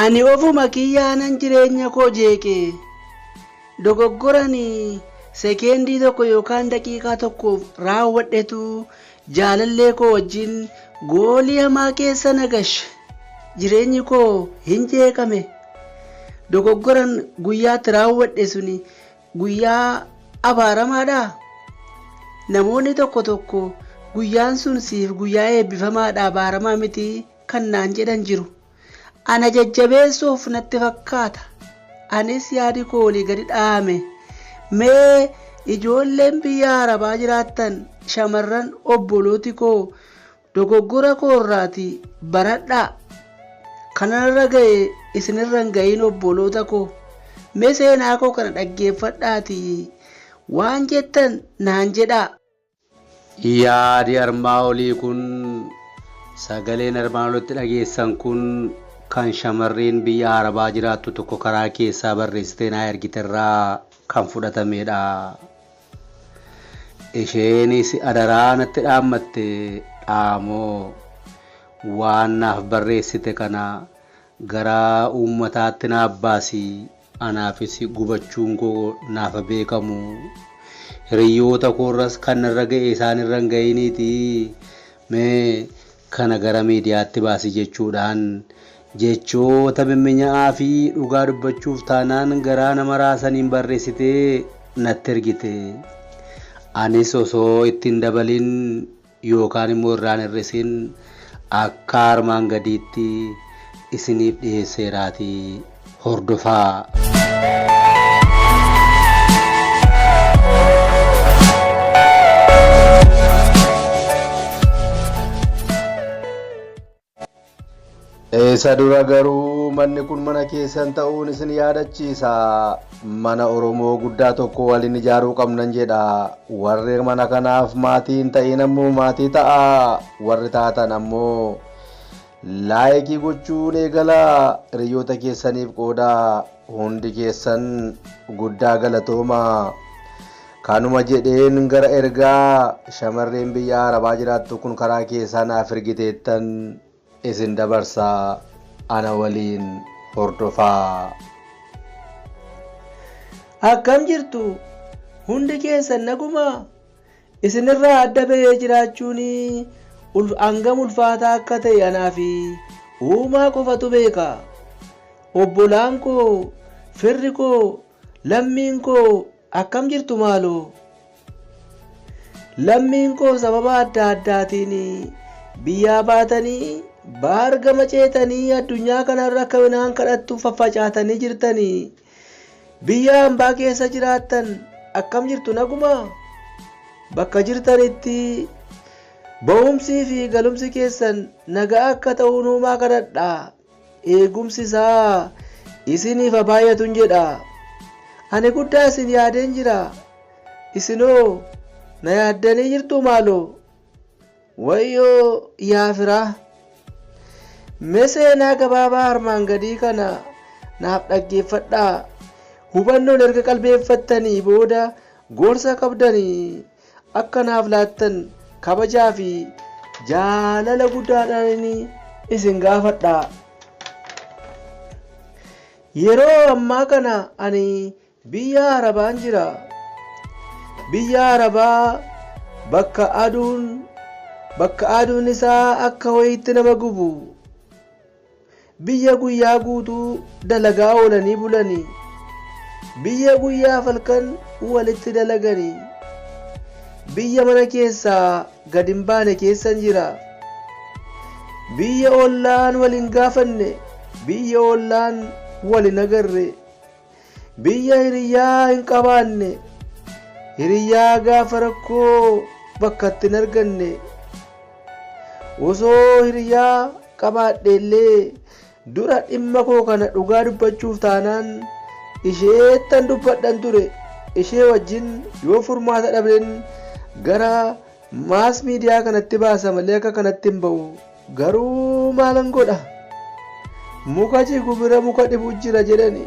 Ani ofuma kiyyaanan jireenya koo jeeqe dogoggorani sekeendii tokko yookaan daqiiqaa tokkoof raawwadhetu Jaalallee koo wajjin goolii hamaa keessa na gashe. Jireenyi koo hin jeeqame. Dogoggoran guyyaatti raawwadhe suni guyyaa abaaramaadhaa? Namoonni tokko tokko guyyaan sun siif guyyaa eebbifamaadha abaaramaa miti kan naan jedhan jiru. Ana jajjabeessuuf natti fakkaata. Anis yaadi koo olii gadi dha'ame. Mee ijoolleen biyya Arabaa jiraattan shamarran obbolooti koo dogoggora koorraatii baradhaa. Kananarra ga'e isinirra hin ga'iin obboloota koo. Mee seenaa koo kana dhaggeeffadhaatii waan jettan naan jedhaa. Yaadi armaa olii kun sagaleen armaan olitti dhageessan kun kan shamarreen biyya Arabaa jiraattu tokko karaa keessaa barreessitee naa ergiterraa kan fudhatameedha. Isheenis adaraa natti dhaammatte dhaamoo waan naaf barreessite kana Garaa uummataatti naaf baasi anaafis gubachuun koo naafa beekamu. Hiriyyoota koorras kan narra ga'e isaan irra hin ga'iniitii mee kana gara miidiyaatti baasi jechuudhaan jechoota mimminya'aa fi dhugaa dubbachuuf taanaan garaa nama raasaniin barreessitee natti ergite. Anis osoo itti hin dabaliin yookaan immoo irraa hin hir'isin akka armaan gadiitti isiniif dhiheesseeraatii hordofaa. Isa dura garuu manni kun mana keessan ta'uun isin yaadachiisa. Mana Oromoo guddaa tokko waliin ijaaruu qabnan jedha. Warri mana kanaaf maatii hin ta'in ammoo maatii ta'a. Warri taatan ammoo laayikii gochuun eegala. Hiriyoota keessaniif qooda. Hundi keessan guddaa galatooma. Kanuma jedheen gara ergaa shamarreen biyya Arabaa jiraattu kun karaa keessaa naaf ergiteettan isin dabarsa ana waliin hordofaa. Akkam jirtu? Hundi keessan nagumaa? Isinirraa adda bahee jiraachuun hangam ulfaataa akka ta'e anaa fi uumaa qofatu beeka. Obbolaan koo, firri koo, lammiin koo Akkam jirtu maaloo? Lammiin koo sababa adda addaatiin biyyaa baatanii baar gama ceetanii addunyaa kanarra akka midhaan kadhattu faffacaatanii jirtanii biyya hambaa keessa jiraattan akkam jirtu naguma? Bakka jirtanitti ba'umsii fi galumsi keessan nagaa akka ta'u nuumaa kadhadhaa. Eegumsi isaa isiniif haa baay'atun jedha. Ani guddaa isin yaadeen jira. Isinoo na yaaddanii jirtuu maaloo? Wayyoo yaa firaa! Mee seenaa gabaabaa armaan gadii kana naaf dhaggeeffadhaa. Hubannoon erga qalbeeffattanii booda gorsa qabdanii Akka naaf laattan kabajaa fi jaalala guddaadhaan isin gaafadha. Yeroo ammaa kana ani biyya Arabaan jira. Biyya Arabaa bakka aduun bakka aduun isaa akka wayiitti nama gubu. Biyya guyyaa guutuu dalagaa oolanii bulanii. Biyya guyyaaf halkan walitti dalaganii. Biyya mana keessaa gad hin baane keessan jira. Biyya ollaan wal hin gaafanne, biyya ollaan wal hin agarre. Biyya hiriyyaa hin qabaanne, hiriyyaa gaafa rakkoo bakka itti hin arganne, osoo hiriyyaa qabaadhe illee dura dhimma koo kana dhugaa dubbachuuf taanaan isheettan dubbadhan ture. Ishee wajjin yoo furmaata dhabnen gara Mass media kanatti baasa malee akka kanatti hin ba'u. Garuu maalan godha? Muka jigu bira muka dhibu jira jedhani.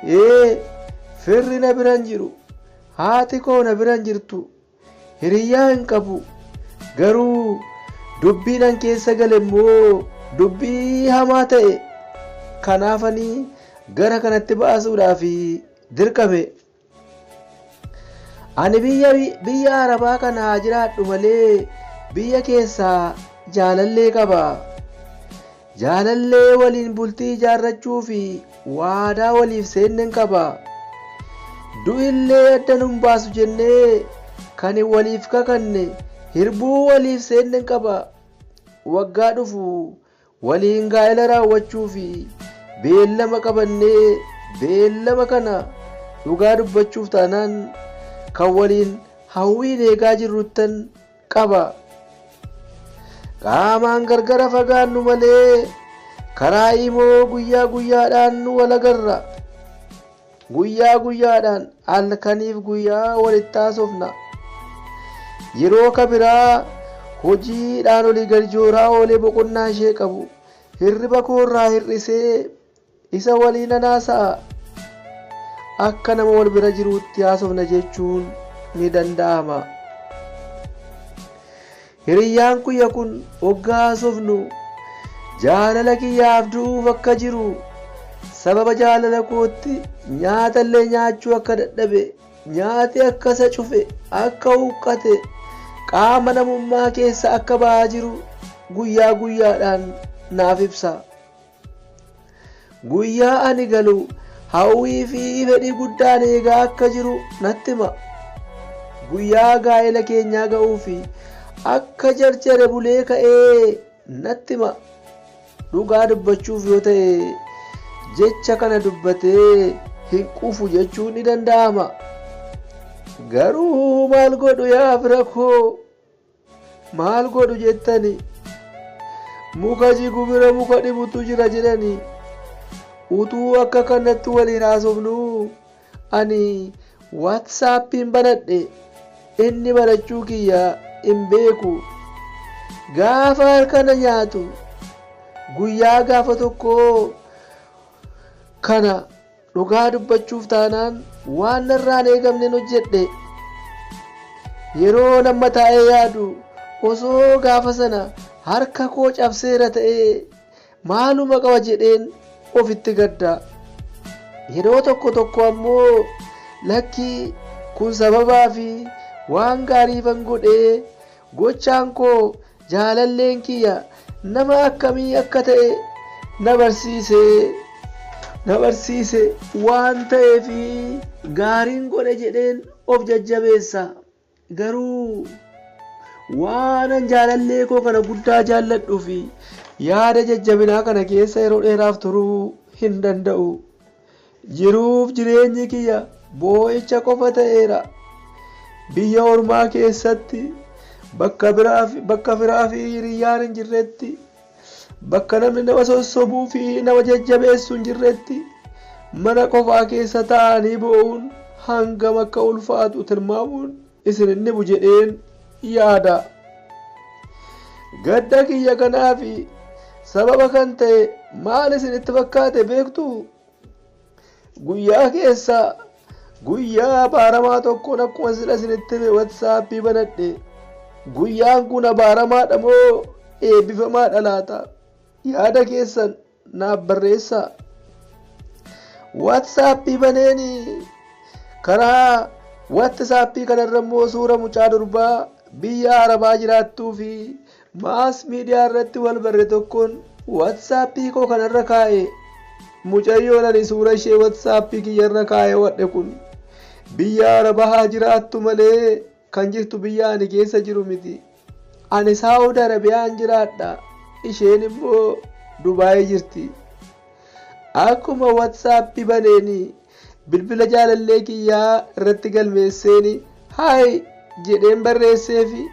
Ee firri na biran jiru. Haati koo na biran jirtu. Hiriyyaa hin qabu. Garuu dubbiin an keessa gale immoo dubbii hamaa ta'e. Kanaafanii gara kanatti baasuudhaaf dirqame. Ani biyya biyya Arabaa kana haa jiraadhu malee biyya keessaa jaalallee qaba. Jaalallee waliin bultii ijaarrachuu fi waadaa waliif seennen qaba. Du'illee adda nun baasu jennee kan waliif kakanne hirbuu waliif seennen qaba. Waggaa dhufu waliin gaa'ela raawwachuu fi beellama qabannee beellama kana dhugaa dubbachuuf taanaan kan waliin hawwiin eegaa jirruttan qaba. Qaamaan gargara fagaannu malee karaa imoo guyyaa guyyaadhaan wal agarra. Guyyaa guyyaadhaan halkaniif guyyaa walitti haasofna. Yeroo ka biraa hojiidhaan olii gadi jooraa oolee boqonnaa ishee qabu hirriba koo irraa hir'isee isa walii nan haasa'a. Akka nama wal bira jiruutti haasofna jechuun ni danda'ama. Hiriyyaan kiyya kun ogga haasofnu jaalala kiyyaaf du'uuf akka jiru, sababa jaalala kootti nyaatallee nyaachuu akka dadhabe, nyaati akka isa cufe, akka huqqate, qaama namummaa keessaa akka bahaa jiru guyyaa guyyaadhaan naaf ibsa. Guyyaa ani galu hawwii fi fedhii guddaan eegaa akka jiru natti hima. Guyyaa gaa'ela keenyaa ga'uu fi akka jarjare bulee ka'ee natti hima. Dhugaa dubbachuuf yoo ta'e jecha kana dubbatee hin quufu jechuun ni danda'ama. Garuu maal godhu yaa fira koo? Maal godhu jettani? Muka jigu bira muka dhibutu jira jedhani. Utuu akka kanatti waliin haasofnuu ani waatsaappiin banadhe inni banachuu kiyya hin beeku. Gaafa harka na nyaatu guyyaa gaafa tokkoo kana Dhugaa dubbachuuf taanaan waan narraa hin eegamnen hojjedhe. Yeroon amma taa'ee yaadu osoo gaafa sana harka koo cabseera ta'ee maaluma qaba jedheen ofitti gadda. Yeroo tokko tokko ammoo lakki kun sababaa fi waan gaariifan godhee gochaan koo Jaalalleen kiyya nama akkamii akka ta'e na barsiise, na barsiise. Waan ta'eef gaariin godhe jedheen of jajjabeessa. Garuu waanan jaalallee koo kana guddaa jaalladhuu fi yaada jajjabinaa kana keessa yeroo dheeraaf turuu hin danda'u. Jiruuf jireenyi kiyya boo'icha qofa ta'eera. Biyya ormaa keessatti, bakka biraa fi bakka firaa fi hiriyyaan hin jirretti, bakka namni nama sossobuu fi nama jajjabeessu hin jirretti, mana qofaa keessa taa'anii boo'uun hangam akka ulfaatu tilmaamuun isin hin dhibu jedheen yaada. Gadda kiyya kanaa fi sababa kan ta'e maal isinitti fakkaate beektuu? Guyyaa keessa guyyaa abaaramaa tokkoon akkuma sila isinitti hime watsaappii banadhe guyyaan kun abaaramaadha moo eebbifamaadha laata yaada keessan naaf barreessaa watsaappii baneeni karaa watsaappii kanarra immoo suura mucaa durbaa biyya arabaa jiraattuu fi Mass media irratti wal barre tokkon WhatsApp koo kanarra kaa'e. Mucayyoon ani suura ishee WhatsApp kiyyarra kaa'ewadhe kun biyya Araba haa jiraattu malee kan jirtu biyya ani keessa jiru miti. Ani Saawud Arabiyaan jiraadha. Isheen immoo Dubaay jirti. Akkuma WhatsApp baneen Bilbila jaalallee kiyyaa irratti galmeesseeni Hi jedheen barreesseefi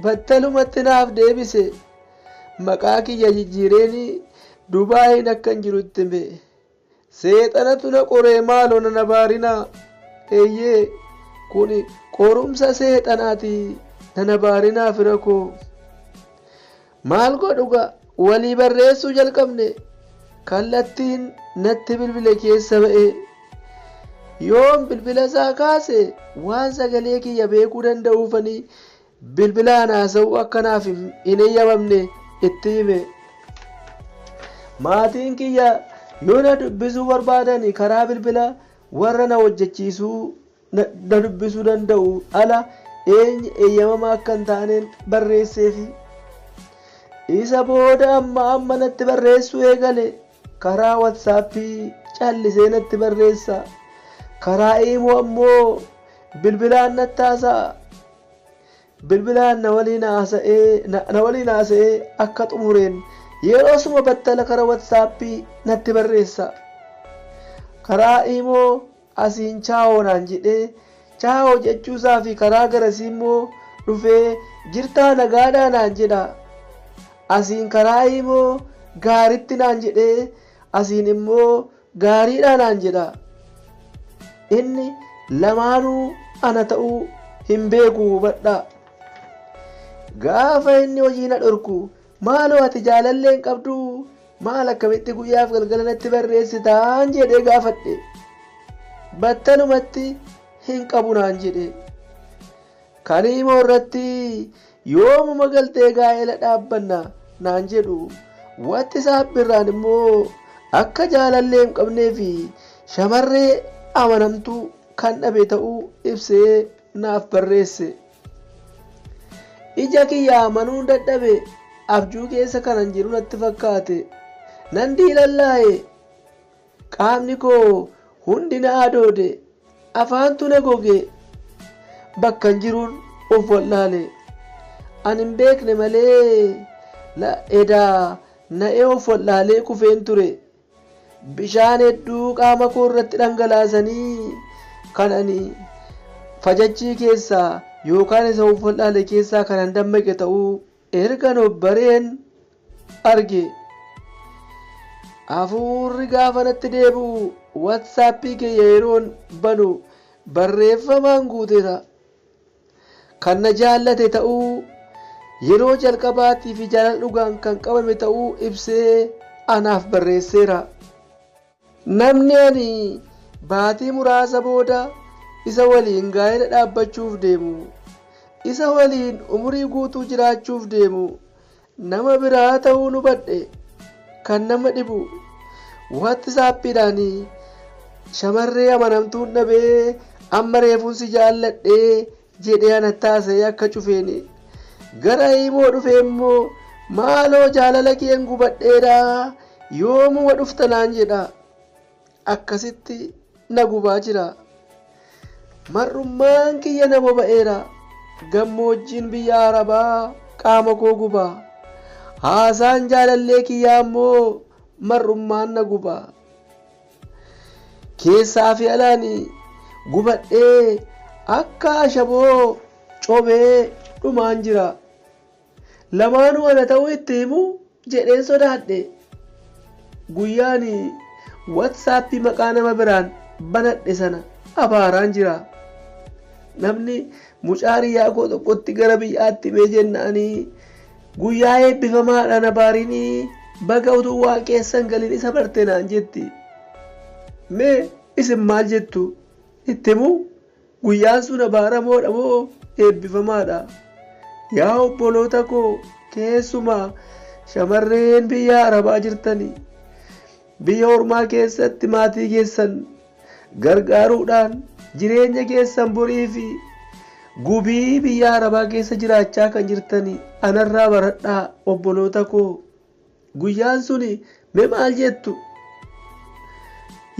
battalumatti naaf deebise. Maqaa kiyya jijjiireeni Dubaayiin akkan jiru itti hime. Seexanatu na qoree maaloo na nabaarinaa. Eeyyee kuni qorumsa seexanaati na nabaarinaa fira koo. Maal godhu gaa walii barreessuu jalqabne kallattiin natti bilbile keessa ba'ee yoon bilbila isaa kaase waan sagalee kiyya beekuu danda'uufanii bilbilaan haasa'uu akka naaf hin eeyyamamne itti hime. Maatiin kiyya yoo na dubbisuu barbaadani karaa bilbila warra na hojjechiisuu na, na dubbisuu danda'u ala eenyu eeyyamamaa akka hin taaneen barreesseefi. Isa booda amma amma natti barreessuu eegale. Karaa watsaappii callisee natti barreessa. Karaa iimoo ammoo bilbilaan natti haasa'a. Bilbilaan na waliin haasa'ee na, na waliin haasa'ee akka xumureen yeroosuma battala karaa watsaappii natti barreessa. Karaa iimoo Asiin Chaawoo naan jedhee Chaawoo jechuusaafi karaa garasiimmoo dhufee jirtaa nagaadhaa naan jedha. Asiin karaa iimoo Gaaritti naan jedhee asiin immoo Gaariidhaa naan jedha. Inni lamaanuu ana ta'uu hin beeku hubadhaa. Gaafa inni hojii na dhorku Maaloo ati jaalallee hin qabduu? Maal akkamitti guyyaaf galgala natti barreessitaan jedhee gaafadhe. Battalumatti hin qabu naan jedhe. Kan imoo irratti yoomuma galtee gaa'ela dhaabbanna naan jedhu. Watti saabbirraan immoo akka jaalallee hin qabnee fi shamarree amanamtuu kan dhabe ta'uu ibsee naaf barreesse. Ija kiyya amanuun dadhabe, abjuu keessa kanan jiru natti fakkaate. Nan diilallaa'e. Qaamni koo hundi na adoode. Afaantu na goge. Bakkan jiruun of wal'aale. Ani hin beekne malee na edaa na'ee of wal'aalee kufeen ture. Bishaan hedduu qaama koo irratti dhangalaasanii kan ani fajachii keessaa yookaan isa of wal'aale keessaa kan an dammaqe ta'uu ergan of bareen arge. Hafuurri gaafa natti deebi'u watsaappii kiyya yeroon banu barreeffamaan guuteera. Kan na jaallate ta'uu, yeroo jalqabaatii fi jaalala dhugaan kan qabame ta'uu ibsee anaaf barreesseera. Namni ani baatii muraasa booda isa waliin gaa'ela dhaabbachuuf deemu, isa waliin umurii guutuu jiraachuuf deemu, Nama biraa ta'uun hubadhe kan nama dhibu WhatsAppdhaan shamarree amanamtuun dhabee amma reefuun si jaalladhe jedhee anatti haasa'ee akka cufeen gara imoo dhufee immoo maaloo jaalala keen gubadheera yoomuma dhufta naan jedha. akkasitti na gubaa jira. Mar'ummaan kiyya na boba'eera, gammoojjiin biyya Arabaa qaama koo guba. Haasaan jaalallee kiyyaa immoo mar'ummaan na guba. Keessaa fi alaan gubadhee akka ashaboo cobee dhumaan jira. Lamaanuu ana ta'uu itti himu jedheen sodaadhe. Guyyaa ani WhatsApp maqaa nama biraan banadhe sana abaaraan jira. Namni mucaa hiriyaa koo tokkotti gara biyyaatti himee jennaani guyyaa eebbifamaadha na baarini baga utuu waan keessan galin isa barte naan jetti. Mee isin maal jettu? Itti himuu? Guyyaan sun abaaramoodha moo eebbifamaadha? Yaa obboloota koo keessumaa shamarreen biyya Arabaa jirtanii biyya ormaa keessatti maatii keessan gargaaruudhaan jireenya keessan borii fi gubii biyya Arabaa keessa jiraachaa kan jirtanii anarraa baradhaa obboloota koo Guyyaan suni mee maal jettu?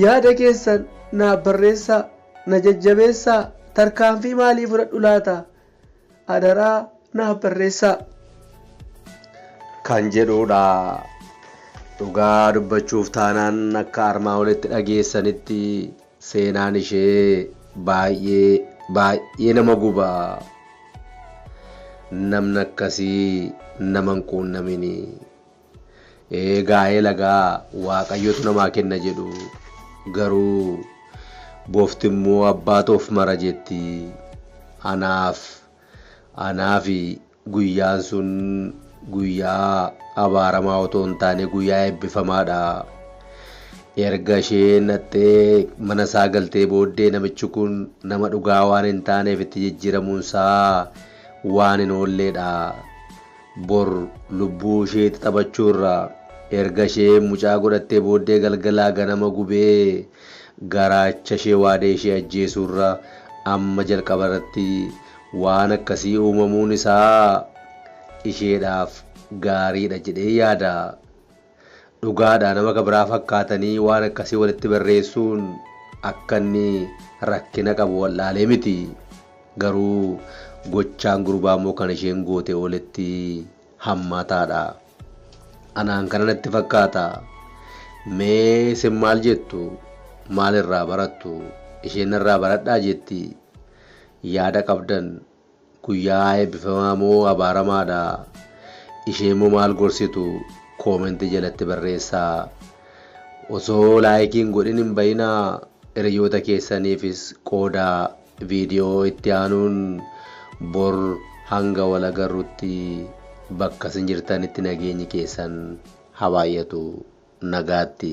Yaada keessan naaf barreessaa, na jajjabeessaa, tarkaanfii maalii fudhadhu laata? Adaraa naaf barreessaa. kan jedhuudha. Dhugaa dubbachuuf taanaan akka armaa olitti dhageessanitti Seenaan ishee baay'ee baay'ee nama guba. Namni akkasii nama hin quunnamini. Ee gaa'ela gaa waaqayyotu namaa kenna jedhu. Garuu bofti immoo abbaatu of mara jetti. Anaaf anaafi Guyyaan sun guyyaa abaaramaa otoo hin taane guyyaa eebbifamaadha. Erga ishee naqxee mana isaa galtee booddee namichi kun nama dhugaa waan hin taaneef itti jijjiiramuun isaa waan hin oolleedha. Bor lubbuu isheetti taphachuurra erga ishee mucaa godhattee booddee galgalaa ganama gubee garaacha ishee waadee ishee ajjeesuurra amma jalqabarratti Waan akkasii uumamuun isaa isheedhaaf gaariidha jedheen yaada. Dhugaadha nama ka biraa fakkaatanii waan akkasii walitti barreessuun akka inni rakkina qabu wal'aalee miti. Garuu gochaan gurbaa immoo kan isheen goote ooletti hammaataadha. Anaan kana natti fakkaata. Mee isin maal jettu? Maal irraa barattu? Isheen narraa baradhaa jetti? Yaada qabdan guyyaa eebbifamaa moo abaaramaadha? Isheemmoo maal gorsitu? Comment jalatti barreessaa. Osoo like hin godhin hin ba'inaa hiriyyoota keessaniifis qoodaa. Video itti aanuun bor hanga wal agarrutti bakka isin jirtanitti nageenyi keessan ha baay'atu. Nagaatti.